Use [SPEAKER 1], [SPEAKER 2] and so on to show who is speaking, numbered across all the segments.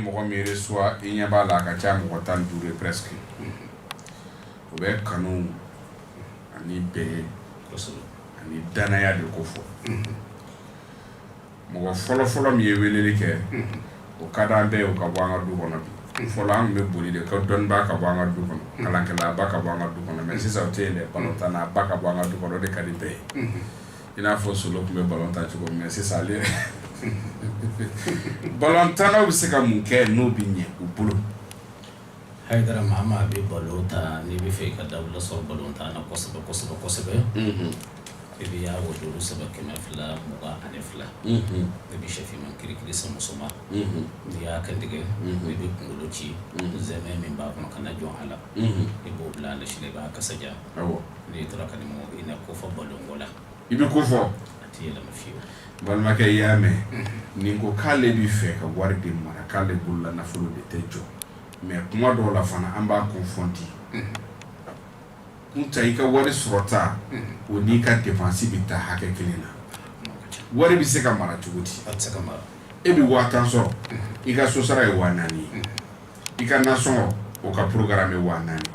[SPEAKER 1] mɔgɔ min reçoit i ɲɛ b'a la a ka ca mɔgɔ tan duuru ye presque o bɛ kanu ani bɛn ani danaya de ko fɔ mɔgɔ fɔlɔfɔlɔ min ye weleli kɛ o ka di an bɛɛ u ka bɔ an ka du kɔnɔ bi fɔlɔ an tun bɛ boli de ka dɔnnibaa ka bɔ an ka du kɔnɔ kalankɛla ba ka bɔ an ka du kɔnɔ mais sisan o tɛ yen dɛ balontanna ba ka bɔ an ka du kɔnɔ o de ka di bɛɛ ye I n'a fɔ Solo tun bɛ balon tan cogo min sisan ale balontannaw bɛ se ka mun kɛ n'o bɛ ɲɛ u bolo
[SPEAKER 2] Haidara maa maa bɛ balon tan n'i bɛ fɛ i ka dawula sɔrɔ balontan na kosɛbɛ kosɛbɛ kosɛbɛ i bɛ ya Wadudu sɛbɛn kɛmɛ fila mugan ani fila i bɛ shɛ finman kirikiri san muso ma n'i y'a kan tigɛ i bɛ kunkolo ci sɛmɛ min b'a kɔnɔ kana jɔn a la i b'o bila ale sini i b'a kaja i tora ka i na ko fɔ balonko la i bɛ ko fɔ a
[SPEAKER 1] tɛ
[SPEAKER 2] yɛlɛma fiyewu balimakɛ i
[SPEAKER 1] y'a mɛn nin ko k'ale bɛ fɛ ka wari de mara k'ale bolola nafolo de tɛ jɔ mais kuma dɔw la fana an b'a confondre kun ta i ka wari sɔrɔta o n'i ka dépense bɛ taa hakɛ kelen na wari bɛ se ka mara cogo di
[SPEAKER 2] e bɛ waa tan
[SPEAKER 1] sɔrɔ i ka so sara ye waa naani ye i ka nasɔngɔ o ka programme ye waa naani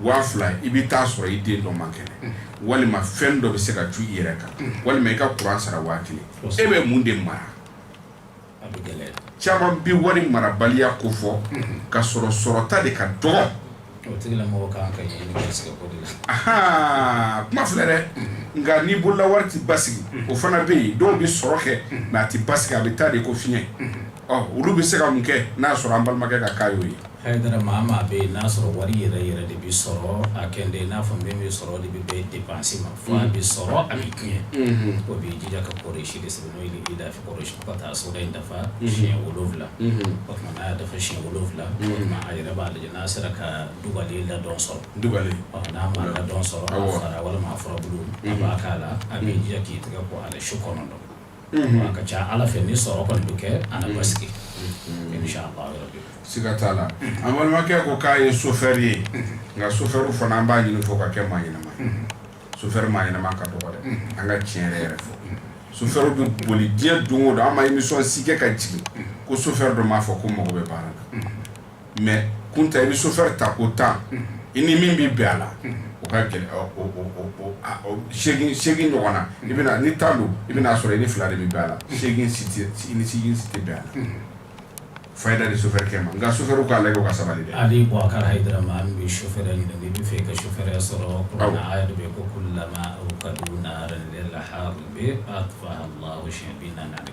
[SPEAKER 1] waa fila i bɛ t'a sɔrɔ i den dɔ man kɛnɛ walima fɛn dɔ bɛ se ka cun i yɛrɛ kan walima i ka kuran sara waa kelen e bɛ mun de mara
[SPEAKER 2] caman bɛ wari
[SPEAKER 1] marabaliya ko fɔ ka sɔrɔ sɔrɔta de ka
[SPEAKER 2] dɔgɔ kuma filɛ dɛ
[SPEAKER 1] nka n'i bolola wari tɛ basigi o fana bɛ yen dɔw bɛ sɔrɔ kɛ mais a tɛ basigi a bɛ taa de ko fiɲɛ Olu bɛ se ka mun kɛ n'a sɔrɔ an balimakɛ ka kan y'o ye Haidara maa maa
[SPEAKER 2] bɛ yen n'a sɔrɔ wari yɛrɛ yɛrɛ de bɛ sɔrɔ a kɛ de n'a fɔ min bɛ sɔrɔ de bɛ bɛn dépense ma fo a bɛ sɔrɔ a bɛ tiɲɛ o b'i jija ka Kurayisi de sɛbɛn n'o ye li ilafi Kurayisi ka taa sura in dafa siɲɛ wolowula o tuma n'a dafa siɲɛ wolowula a yɛrɛ b'a lajɛ n'a sera ka dugalen ladɔn sɔrɔ dugalen n'a ma ladɔn sɔrɔ walima furabulu b'a k'a la a b'i jija k'i tɛgɛ ko a la su kɔnɔntɔn A ka ca ala fɛ ni sɔrɔ kɔni bɛ kɛ a na basigi inshallah siga
[SPEAKER 1] t'a la an balimakɛ ko k'a ye sofɛri ye nka sofɛriw fana an b'a ɲini u fɛ u ka kɛ maa ɲɛnama sofɛri maa ɲɛnama ka dɔgɔ dɛ an ka tiɲɛ yɛrɛ yɛrɛ fɔ sofɛriw bɛ boli diɲɛ don o don an ma émission si kɛ ka jigin ko sofɛri dɔ m'a fɔ ko n mago bɛ baara la mais kun ta i bɛ sofɛ ta ko tan i ni min bɛ bɛn a la o ka gɛlɛn segin ɲɔgɔn na i bɛ ni tan don i bɛn'a sɔrɔ i ni fila de bɛ bɛn a la segin si tɛ bɛn a la fayida ni sofɛkɛ ma n nka sofɛ k'a lajɛ ka sabali dɛ Aboubacar Haidara
[SPEAKER 2] ma an bɛ sofɛ ɲini n'i bɛ fɛ ka sofɛri sɔrɔ yɛrɛ bɛ ko la ka la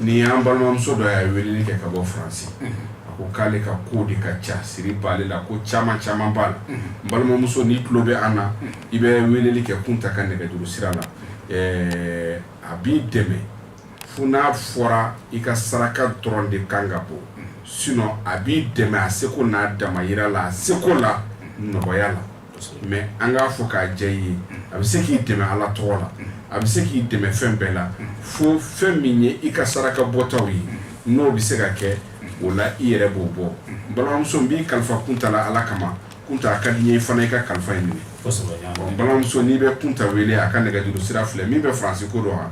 [SPEAKER 1] Ni
[SPEAKER 2] an balimamuso
[SPEAKER 1] dɔ ye weleli kɛ ka bɔ faransi a ko k'ale ka ko de ka ca siri b'ale la ko caman caman b'a la balimamuso n'i tulo bɛ an na i bɛ weleli kɛ kunta ka nɛgɛjuru sira la a b'i dɛmɛ Fo n'a fɔra i ka saraka dɔrɔn de kan ka bɔ sinɔn a b'i dɛmɛ a seko n'a damayira la a seko la nɔgɔya la mɛ an k'a fɔ k'a jɛya i ye a bɛ se k'i dɛmɛ ala tɔgɔ la a bɛ se k'i dɛmɛ fɛn bɛɛ la fo fɛn min ye i ka saraka bɔtaw ye n'o bɛ se ka kɛ o la i yɛrɛ b'o bɔ balimamuso n b'i kalifa kunta la ala kama kunta a ka di n ye fana i ka kalifa in minɛ balimamuso n'i bɛ kunta wele a ka nɛgɛjuru sira filɛ min bɛ faransi ko dɔn wa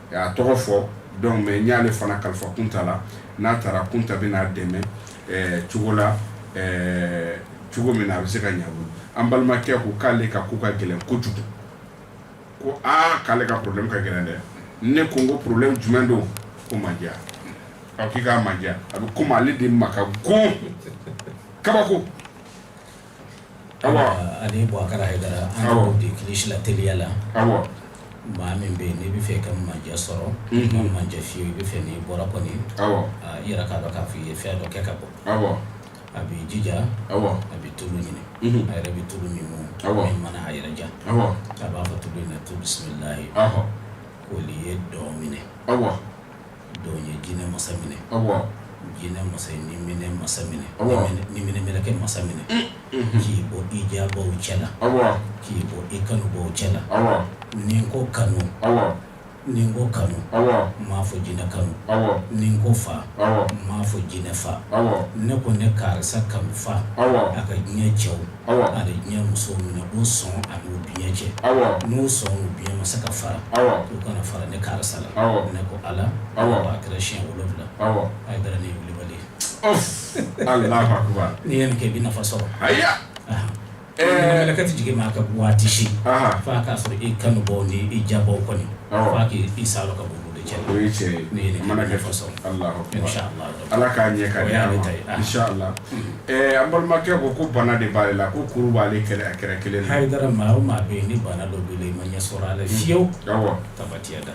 [SPEAKER 1] A tɔgɔ fɔ dɔnki mɛ n y'ale fana kalifa kunta la n'a taara kunta bɛn'a dɛmɛ cogo la cogo min na a bɛ se ka ɲa a bolo an balimakɛ ko k'ale ka ko ka gɛlɛn kojugu ko aa k'ale ka problème ka gɛlɛn dɛ ne ko n ko problème jumɛn don ko mandiya k'i ka mandiya a bɛ komi ale de ma ka go kabako
[SPEAKER 2] Ani bubakari hayidara an de kilisi la teliya la maa min bɛ n'i b'a fɛ ka mandiya sɔrɔ mandiya fiyewu i bɛ fɛ n'i bɔra kɔni i yɛrɛ k'a dɔn k'a fɔ i ye fɛn dɔ kɛ ka bɔ a b'i jija a bɛ tulu ɲini a yɛrɛ bɛ tulu min mun min mana a yɛrɛ diya a b'a fɔ tulu in na tu bisimila koli ye dɔn minɛ Dɔn ye jinɛ masa minɛ jinɛ masa ye niminɛ masa minɛ niminɛ mɛlɛkɛ masa minɛ k'i bɔ i diyabaw cɛ la k'i bɔ i kanubaw cɛ la ni n ko kanu ni n ko kanu n m'a fɔ jinɛ kanu ni n ko fa n m'a fɔ jinɛ fa ne ko ne karisa kanu fa a ka diɲɛ cɛw ani diɲɛ musow minɛ o sɔn ani o biɲɛ cɛ n'o sɔn o biɲɛ ma se ka fara u kana fara ne karisa la ne ko ala a kɛra siɲɛ wolonwula a ye bɛn nibali
[SPEAKER 1] n'i ye nin kɛ i bɛ
[SPEAKER 2] nafa sɔrɔ mɛlɛkɛ tɛ jigin maa kan waati si fo k'a sɔrɔ i kanubaw ni i diyabaw kɔni k' i sa ka bɔ de cɛ ne ye nin
[SPEAKER 1] mana kɛ nafa sɔrɔ Ala k'a ɲɛ ka di a ma,
[SPEAKER 2] o y'a ne ta
[SPEAKER 1] ye, anhan, inchallah ɛɛ an balimakɛ ko ko bana de b'ale la ko kuru b'ale kɛrɛ a kɛrɛ kelen na, Hayidara maa o maa bɛ yen
[SPEAKER 2] ni bana dɔ b'i la i ma ɲɛ sɔrɔ a la fiyewu, awɔ, tabatiyada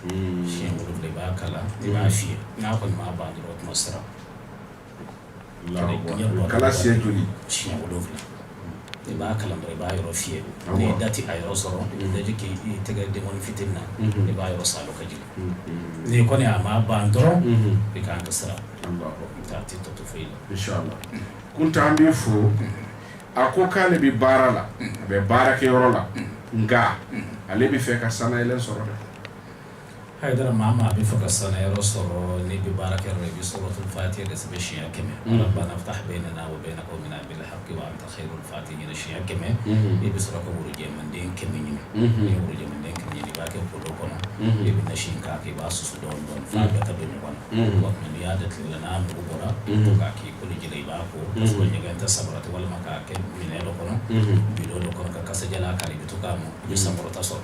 [SPEAKER 2] siɲɛ wolonwula i b'a kalan i b'a fiyɛ n'a kɔni m'a ban dɔrɔn o tuma siran
[SPEAKER 1] kalan siɲɛ joli
[SPEAKER 2] siɲɛ wolonwula i b'a kalan dɔrɔn i b'a yɔrɔ fiyɛ n'i da ti a yɔrɔ sɔrɔ i bɛ daji k'i tɛgɛ denkɔni fitinin na i b'a yɔrɔ saalo ka jigin n'i kɔni a ma ban dɔrɔn i kan ka sira ta a tɛ tɔ to foyi
[SPEAKER 1] la inshallah kunta an b'i fo a ko k'ale bɛ baara la a bɛ baara kɛ yɔrɔ la nka ale bɛ fɛ ka sannayɛlɛn sɔrɔ dɛ Hayidara
[SPEAKER 2] maa maa bɛ fɛ ka sannayɔrɔ sɔrɔ n'i bɛ baara kɛ i bɛ suratul fatiha de sɛbɛn siɲɛ kɛmɛ rabbana iftah baynana wa bayna qawmina bil haqqi wa anta khayrul fatihin siɲɛ kɛmɛ i bɛ sɔrɔ ka worojɛden kɛmɛ ɲini n'i ye worojɛden kɛmɛ ɲini i b'a kɛ kolon kɔnɔ i bɛ nasi in k'a kɛ i b'a susu dɔɔni f'a bɛɛ ka don ɲɔgɔn na n'i y'a da tile la n'a mugu bɔra k'a k'i koji la i b'a ko ɲɛgɛn tɛ sabara tɛ walima k'a kɛ minɛn dɔ kɔnɔ bidon dɔ kɔnɔ ka kasadiyalan k'a la i bɛ to k'a mɔ i bɛ sankɔrɔta sɔrɔ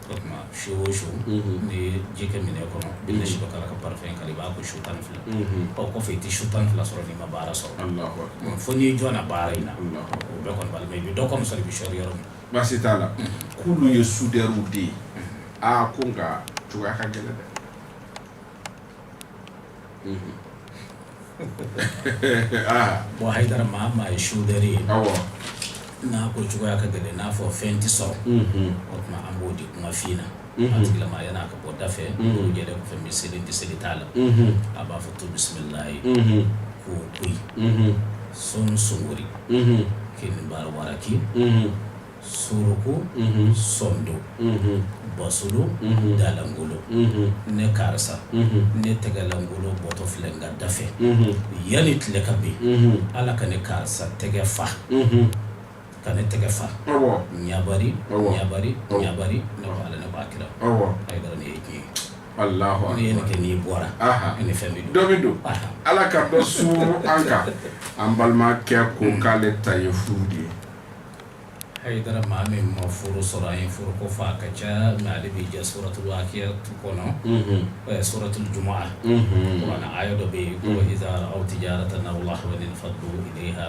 [SPEAKER 2] O tuma su o su n'i ye ji kɛ minɛn kɔnɔ i bɛ nasi dɔ k'a la ka parfum k'a la i b'a ko su 12 ɔ o kɔfɛ i tɛ su 12 sɔrɔ n'i ma baara sɔrɔ, Alahu akbar, fo n'i jɔnna baara in na, Alahu akbar, o bɛɛ kɔni b'a la mais i bɛ dɔ kɔni sɔrɔ i bɛ sɔrɔ yɔrɔ min na, baasi t'a
[SPEAKER 1] la, k'olu ye soudeur de ye, aa ko nka cogoya ka gɛlɛn dɛ
[SPEAKER 2] bon Hayidara maa maa ye sudɛri ye n'a ko cogoya ka gɛlɛn n'a fɔ fɛn tɛ sɔrɔ o tuma an b'o di kuma fin na a tigilama yan'a ka bɔ da fɛ n'o jɛra fɛn bɛ seli tɛ seli t'a la a b'a fɔ tu bisimilahi k'o to yen sɔn sogori k'i ni baara wara k'i suruku sondo basulu dalangolo ne karisa ne tɛgɛlangolo bɔtɔ filɛ n ka da fɛ yanni tile ka bin ala ka ne karisa tɛgɛ fa ka ne tɛgɛ fa ɲabari ɲabari ɲabari ne ala ne ba kira Hayidara ne ye diɲɛ ye ne ye
[SPEAKER 1] nin kɛ n'i
[SPEAKER 2] bɔra ni fɛn bɛ dɔ bɛ don ala
[SPEAKER 1] ka dɔ suuru an kan an balimakɛ ko k'ale ta ye furu de ye a ye
[SPEAKER 2] da maa min ma furu sɔrɔ a ye furu ko fɔ a ka ca na ale bɛ jɛ sɔrɔtu akiya tu kɔnɔ sɔrɔtu juma na a ye dɔ bɛ yen ko aw tɛ diyara ta na la fa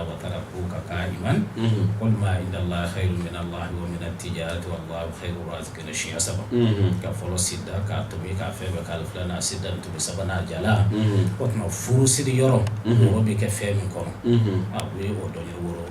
[SPEAKER 2] wa taara ko ka ka ɲuman walima dalayi minɛ la minɛ tɛyara kɛnɛ siɲɛ saba ka fɔlɔ sida k'a to k'a fɛn bɛɛ k'a filan sida tun bɛ sabanan a jala o tuma furu siri yɔrɔ mɔgɔ bɛ kɛ fɛn min kɔnɔ a o dɔn woro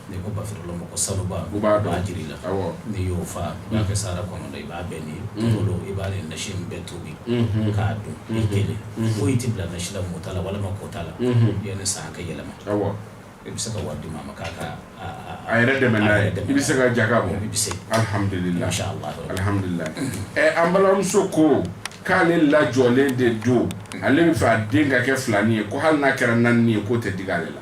[SPEAKER 2] N'i
[SPEAKER 1] ko bafilo
[SPEAKER 2] ma ko sanuba u b'a dɔn jiri
[SPEAKER 1] la
[SPEAKER 2] n'i y'o faa
[SPEAKER 1] i
[SPEAKER 2] b'a kɛ sa kɔnɔ i b'a bɛn nin bolo i b'a ni nasi in bɛɛ tobi k'a dun i kelen foyi tɛ bila nasi la mɔ ta la walima ko ta la yanni san ka yɛlɛma i bɛ se ka wari di maa ma k'a a yɛrɛ
[SPEAKER 1] dɛmɛ dɛ i bɛ se ka jaka bɔ i bɛ se alihamdulila alihamdulila ɛ an balimamuso ko k'ale lajɔlen de don ale bɛ fɛ a den ka kɛ filanin ye ko hali n'a kɛra naani ye k'o tɛ digi ale la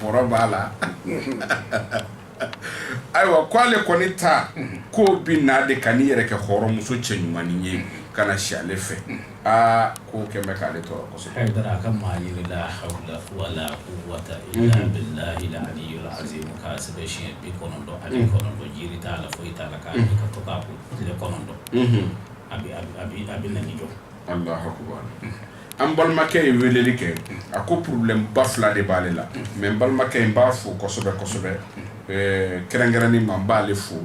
[SPEAKER 1] bɔrɔ b'a la ayiwa ko ale kɔni ta ko bɛ na de ka n'i yɛrɛ kɛ hɔrɔnmuso cɛ ɲumanin ye ka na si ale fɛ aa ko kɛmɛ bɛ k'ale tɔɔrɔ kosɛbɛ Hayidara ka maa ɲini
[SPEAKER 2] la hawula wala quwwata illa mhm. billahi al-aliyyil azim k'a sɛbɛn siɲɛ bi kɔnɔntɔn ani mhm. kɔnɔntɔn jiri t'a la foyi t'a la k'a mhm. ka to k'a ko tile kɔnɔntɔn a bɛ a bɛ a bɛ na ni jɔ Allahu akbar
[SPEAKER 1] an balimakɛ ye weleli kɛ a ko problème ba fila de b'ale la mais n balimakɛ in b'a fo kosɛbɛ kosɛbɛ kɛrɛnkɛrɛnni ma n b'ale fo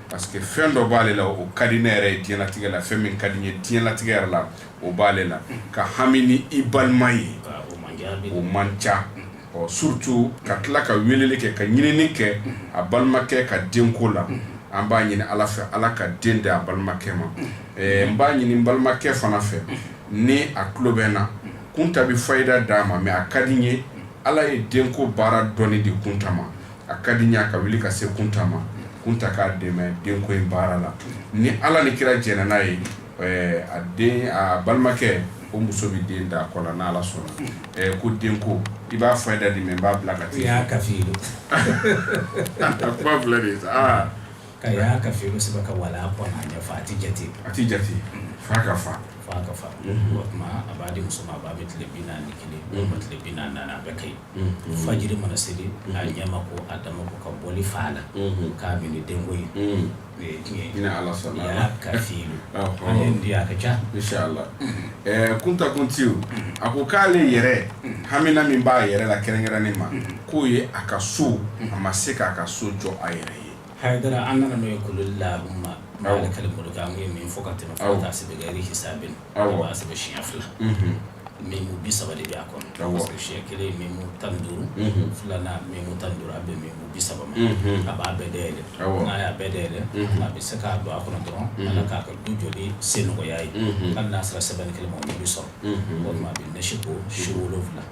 [SPEAKER 1] parce que fɛn dɔ b'ale la o ka di ne yɛrɛ ye diɲɛlatigɛ la fɛn min ka di n ye diɲɛlatigɛ yɛrɛ la o b'ale la ka hami ni i balima ye o man ca ɔ surtout ka tila ka weleli kɛ ka ɲinini kɛ a balimakɛ ka denko la an b'a ɲini ala fɛ ala ka den di a balimakɛ ma n b'a ɲini balimakɛ fana fɛ ni a tulo bɛ n na Kunta bɛ fayida d'a ma mais a ka di n ye ala ye denko baara dɔnni di Kunta ma a ka di n ye a ka wuli ka se Kunta ma Kunta k'a dɛmɛ denko in baara la ni ala ni kira jɛnna n'a ye a den a balimakɛ o muso bɛ den da a kɔ la n' ala sɔnna ko denko i b'a fayida di mais n b'a bila ka taa i ya kafilu
[SPEAKER 2] kuma
[SPEAKER 1] filɛ de Ka ya
[SPEAKER 2] kafilu sɛbɛn ka wala kɔnɔ fa a tɛ jate a tɛ jate fa ka
[SPEAKER 1] fa fa ka fa
[SPEAKER 2] o tuma a b'a di muso ma a b'a bɛ tile bi naani ni kelen walima tile bi naani a bɛɛ ka ɲi fajiri mana seli a ɲɛ ma ko a da ma ko ka bɔli fa la k'a min denko ye ni
[SPEAKER 1] ala sɔnna
[SPEAKER 2] kafilu a ka ca
[SPEAKER 1] inshallah Kunta continue a ko k'ale yɛrɛ hamina min b'a yɛrɛ la kɛrɛnkɛrɛnnen ma k'o ye a ka so a ma se k'a ka so jɔ a yɛrɛ ye Hayidara an nana n'o
[SPEAKER 2] ye qulillahumma malikal mulk an ye min fɔ ka tɛmɛ fo ka taa se bi gayri hisabin a b'a sɛbɛn siɲɛ fila mimu bi saba de b'a kɔnɔ siɲɛ kelen mimu tan ni duuru filanan mimu tan ni duuru a bɛ mimu bi saba ma a b'a bɛɛ dayɛlɛ n'a y'a bɛɛ dayɛlɛ a bɛ se k'a don a kɔnɔ dɔrɔn ala k'a ka du jɔ sen nɔgɔya ye hali n'a sera sɛbɛnni kelen ma o bɛ sɔrɔ o tuma a bɛ nasi ko su wolowula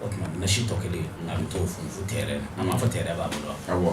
[SPEAKER 2] o tuma nasi tɔ kelen a bɛ t'o funfun terrain na a m'a fɔ terrain b'a bolo wa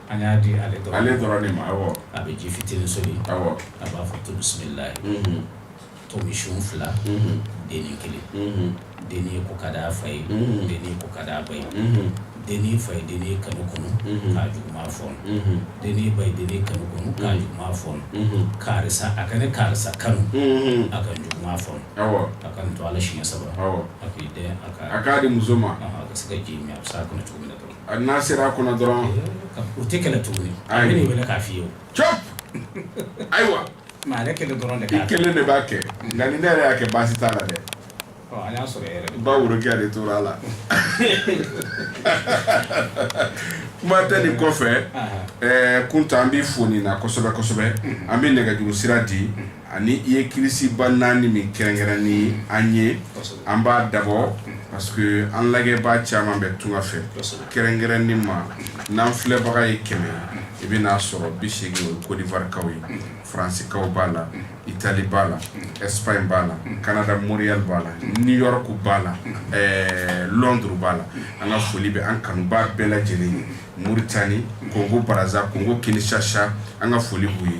[SPEAKER 2] An y'a di ale dɔrɔn, ale dɔrɔn de ma,
[SPEAKER 1] awɔ, a bɛ ji
[SPEAKER 2] fitinin soli, awɔ, a b'a
[SPEAKER 1] fɔ
[SPEAKER 2] tu bisimilahi, unhun, tomisun fila, unhun, denni kelen, unhun, denni ye ko ka d'a fa ye, unhun, denni ye ko ka d'a ba ye, unhun, denni fa ye denni kanu kunu, unhun, k'a juguman fɔɔnɔ, unhun, denni ba ye denni kanu kunu, unhun, k'a juguman fɔɔnɔ, unhun, karisa a ka ne karisa kanu, unhun, a ka n juguman fɔɔnɔ, awɔ, a ka nin tu a la siɲɛ saba, awɔ, a k'i dɛn a ka, a k'a di muso ma,
[SPEAKER 1] ɔnhɔn, a ka se ka ji min a
[SPEAKER 2] bɛ s'a kɔnɔ cogo min na dɔrɔn. A n'a sera a kɔnɔ
[SPEAKER 1] dɔrɔn u tɛ
[SPEAKER 2] kɛlɛ tugu a bɛ wele k'a f'i ye
[SPEAKER 1] c ayiwa ale kelen
[SPEAKER 2] dɔrɔn de kelen de b'a kɛ
[SPEAKER 1] nka ni ne yɛrɛ y'a kɛ baasi t'a la dɛ y'a
[SPEAKER 2] sɔrɔ bawo rokiya de
[SPEAKER 1] tora
[SPEAKER 2] a
[SPEAKER 1] la kuma tɛ nin kɔfɛ kunta an b'i fo nin na kosɛbɛ kosɛbɛ an bɛ nɛgɛjuru sira di ani i ye kirisiba naani min kɛrɛnkɛrɛn ni an ye an b'a dabɔ parce que an lajɛbaa caman bɛ tunga fɛ kɛrɛnkɛrɛnni ma n'an filɛbaga ye kɛmɛ i b'a sɔrɔ bi seegin o ye Côte d'Ivoire kaw ye faransikaw b'a la Italie b'a la Espagne b'a la Canada Montréal b'a la New York b'a la Londres b'a la an ka foli bɛ an kanubaa bɛɛ lajɛlen ye Mauritanie Congo Brazza Congo Kinshasa an ka foli b'aw ye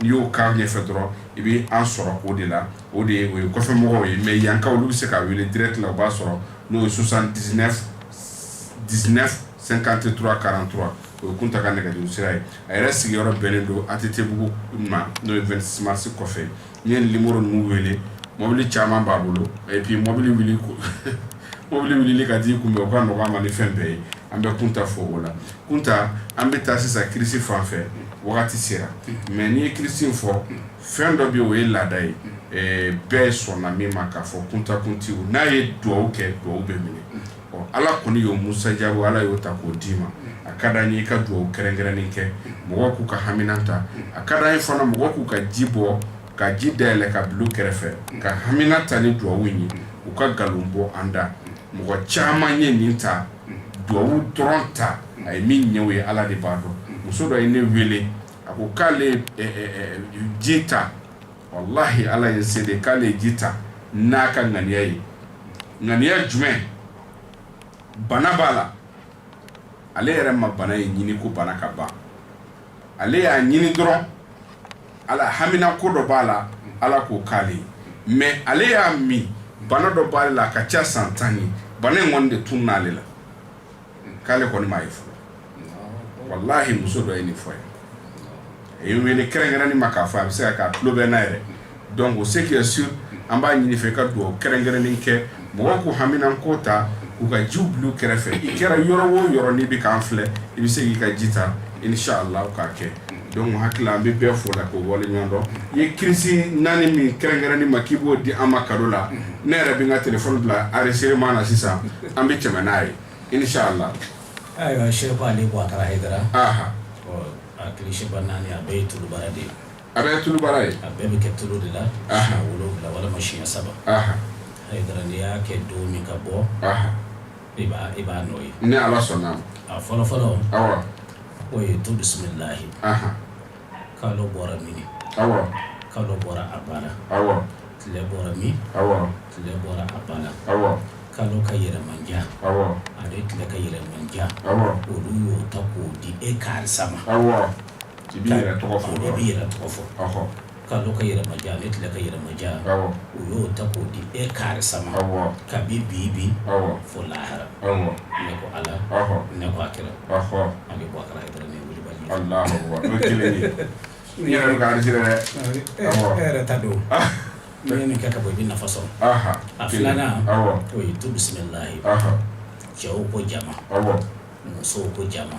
[SPEAKER 1] N'i y'o k'a ɲɛfɛ dɔrɔn i bɛ an sɔrɔ o de la o de ye o ye kɔfɛmɔgɔw ye mais yankaw olu bɛ se k'a wele direct la u b'a sɔrɔ n'o ye 79 19 53 43 o ye Kunta ka nɛgɛjuru sira ye a yɛrɛ sigiyɔrɔ bɛnnen don ATT bugu ma n'o ye 26 mars kɔfɛ n'i ye nin numéro ninnu wele mobili caman b'a bolo et puis mobili wuli ko Mobili wulili ka di kunbɛn o ka nɔgɔ a ma ni fɛn bɛɛ ye an bɛ kunta fo o la kunta an bɛ taa sisan kirisi fan fɛ wagati sera mais n'i ye kirisi fɔ fɛn dɔ bɛ o ye laada ye bɛɛ sɔnna min ma k'a fɔ kunta kuntiw n'a ye dugawu kɛ dugawu bɛ minɛ ɔ ala kɔni y'o musajabu ala y'o ta k'o d'i ma a ka d'an ye i ka dugawu kɛrɛnkɛrɛnnen kɛ mɔgɔw k'u ka hamina ta a ka d'an ye fana mɔgɔw k'u ka ji bɔ ka ji dayɛlɛ ka bila u kɛrɛfɛ ka hamina ta ni duwawu ye u ka nkalon bɔ an da mɔgɔ caman ye nin ta duwawu dɔrɔn ta a ye min ɲɛ o ye ala de b'a dɔn muso dɔ ye ne wele a ko k'ale ji ta walahi ala ye n seere k'ale ji ta n'a ka ŋaniya ye ŋaniya jumɛn bana b'a la ale yɛrɛ ma bana ye ɲini ko bana ka ban ale y'a ɲini dɔrɔn Ala hamina ko dɔ b'a la ala k'o k'ale mais ale y'a min bana dɔ b'ale la a ka ca san tan ye bana in kɔni de tununn'ale la k'ale kɔni m'a ye fɔlɔ walahi muso dɔ ye nin fɔ ye a ye wele kɛrɛnkɛrɛnni ma k'a fɔ a bɛ se ka k'a tulo bɛ n'a yɛrɛ donc ce qui est sûr an b'a ɲini fɛ ka dugawu kɛrɛnkɛrɛnnen kɛ mɔgɔw k'u hamina ko ta k'u ka ji bila u kɛrɛfɛ i kɛra yɔrɔ o yɔrɔ n'i bɛ k'an filɛ i bɛ se k'i ka ji ta inshallah k'a kɛ Donc hakika an bɛ bɛɛ fo la k'u waleɲumandɔn i ye kirisi naani min kɛrɛnkɛrɛnni ma k'i b'o di an ma kado la ne yɛrɛ bɛ n ka téléphone bila enregistrement na sisan an bɛ tɛmɛ n'a ye inshallah ayiwa
[SPEAKER 2] Sheikh Ali Boubacar Haidara
[SPEAKER 1] aha a
[SPEAKER 2] kirisiba naani a bɛɛ ye tulubaara de ye a bɛɛ
[SPEAKER 1] tulubaara ye a bɛɛ bɛ kɛ tulu de la
[SPEAKER 2] siɲɛ wolonwula walima siɲɛ saba Haidara n'i y'a kɛ don min ka bɔ i b'a nɔ ye ni Ala sɔnna a
[SPEAKER 1] ma fɔlɔ fɔlɔ o ye
[SPEAKER 2] tu bisimilahi kalo bɔra min
[SPEAKER 1] kalo bɔra a
[SPEAKER 2] banna tile
[SPEAKER 1] bɔra min tile bɔra
[SPEAKER 2] a banna
[SPEAKER 1] kalo ka
[SPEAKER 2] yɛlɛmanja
[SPEAKER 1] ale tile
[SPEAKER 2] ka yɛlɛmanja olu
[SPEAKER 1] y'o ta
[SPEAKER 2] k'o di e karisa ma
[SPEAKER 1] k'i b'i yɛrɛ tɔgɔ fɔ
[SPEAKER 2] Kalo ka yɛlɛmanja ale tile ka yɛlɛmanja u
[SPEAKER 1] y'o ta
[SPEAKER 2] k'o di e karisa ma kabi
[SPEAKER 1] bi
[SPEAKER 2] bi fo lahara ne ko
[SPEAKER 1] ala
[SPEAKER 2] ne ko a kira an bɛ bɔ kala dɔrɔn yɛrɛ ta
[SPEAKER 1] don
[SPEAKER 2] n'i ye nin kɛ ka bɔ i bɛ nafa sɔrɔ a filanan o ye tu bisimilahi cɛw ko jama musow ko jama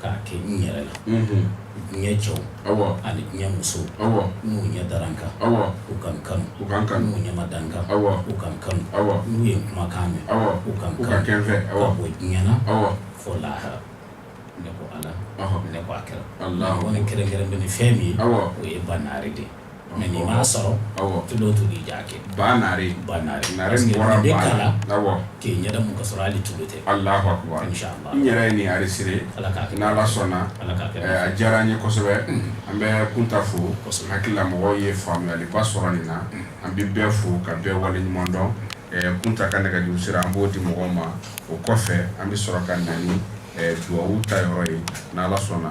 [SPEAKER 2] k'a kɛ n yɛrɛ la diɲɛ cɛw ani diɲɛ musow n'u ɲɛ dara n kan u ka n kanu n'u ɲɛ ma da n kan u ka n kanu n'u ye n kumakan mɛn u ka n kanu ka bɔ diɲɛ na fo lahara ne ko ala ne ko a
[SPEAKER 1] kira
[SPEAKER 2] kɛrɛnkɛrɛn
[SPEAKER 1] bɛ ni
[SPEAKER 2] fɛn min ye o ye ba
[SPEAKER 1] naare de ye
[SPEAKER 2] Mɛ n'i m'a sɔrɔ tulu o
[SPEAKER 1] tulu i j'a
[SPEAKER 2] kɛ ba naare
[SPEAKER 1] ba naare la
[SPEAKER 2] k'i
[SPEAKER 1] ɲɛ mun ka
[SPEAKER 2] sɔrɔ hali tulu tɛ
[SPEAKER 1] Allahu akbar n yɛrɛ ye nin
[SPEAKER 2] enregistré
[SPEAKER 1] ala ka n' ala
[SPEAKER 2] sɔnna
[SPEAKER 1] ala a
[SPEAKER 2] diyara n ye
[SPEAKER 1] kosɛbɛ an bɛ kunta fo hakili la
[SPEAKER 2] mɔgɔw
[SPEAKER 1] ye faamuyaliba sɔrɔ nin na an bɛ bɛɛ fo ka bɛɛ waleɲuman dɔn kunta ka nɛgɛjuru sira an b'o di mɔgɔw ma o kɔfɛ an bɛ sɔrɔ ka na ni dugawu ta yɔrɔ ye n' ala sɔnna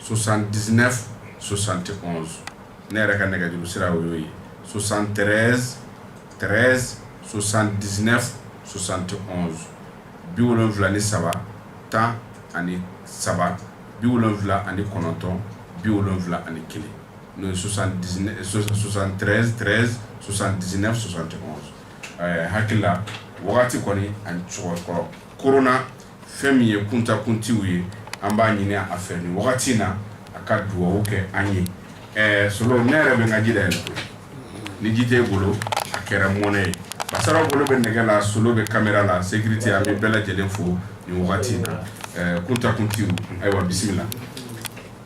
[SPEAKER 1] sosan diinɛ sosan tɛ ne yɛrɛ ka nɛgɛjuru sira o y'o ye sosan tɛ tɛ sosan diinɛ sosan tɛ bi wolonwula ni saba tan ani saba bi wolonwula ani kɔnɔntɔn bi wolonwula ani kelen n'o ye sosan sosan tɛ tɛ sosan diinɛ sosan tɛ hakilila wagati kɔni ani cɛkɔrɔba kɔrɔ kona fɛn min ye kunta kunte ye an b'a ɲini a fɛ nin wagati in na a ka dugawu kɛ an ye ɛɛ solo ne yɛrɛ bɛ n ka ji dayɛlɛ ni ji t'i bolo a kɛra mɔnɛ ye basaraw bolo bɛ nɛgɛ la solo bɛ kamera la sécurité an bɛ bɛɛ lajɛlen fo nin wagati in na ɛɛ kunta kunte ayiwa bisimila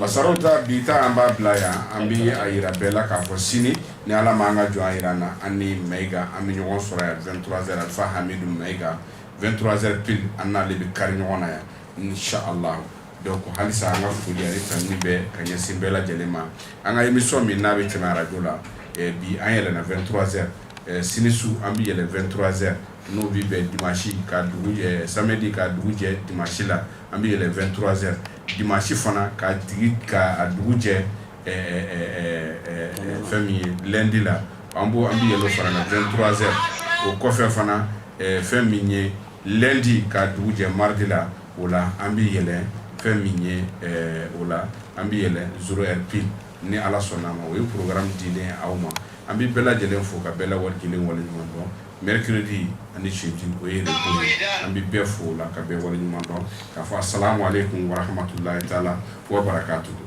[SPEAKER 1] a sɔrɔ ta bi an b'a bila yan an bɛ a jira bɛɛ la k'a fɔ sini ni ala ma an ka jɔn jira na an ni ma an bɛ ɲɔgɔn sɔrɔ yan fa hami ma itura pe an n'ale bɛ kari ɲɔgɔn na yan ni sa a la dɔw ko halisa an ka foli ani tan ni bɛɛ ka ɲɛsin bɛɛ lajɛlen ma an ka imisɔn min n'a bɛ tɛmɛ arajo la bi an yɛlɛɛnɛntura sini su an bɛ yɛlɛɛnɛnturazɛrɛ n'o bɛ bɛn di masi ka dugu samɛden ka dugu jɛ di masi la an bɛ yɛlɛɛnɛnturazɛrɛ dimanche fana ka tigi ka dugu jɛ fɛn min ye lundi la an b' an bɛ yɛlɛ fara la 23h o kɔfɛ fana fɛn min ye lundi ka dugu jɛ mardi la o la an bɛ yɛlɛ fɛn min ye o la an bɛ yɛlɛ 0h pile ni ala sɔnna a ma o ye programme dilen aw ma an bɛ bɛɛ lajɛlen fo ka bɛɛ la wari kelen wale ɲuman dɔn Mɛrikdi ani siti o ye an bɛ bɛɛ fɔ la ka bɛɛ wale ɲuman dɔn ka fɔ sa ale kun waramatula la wara ka tugu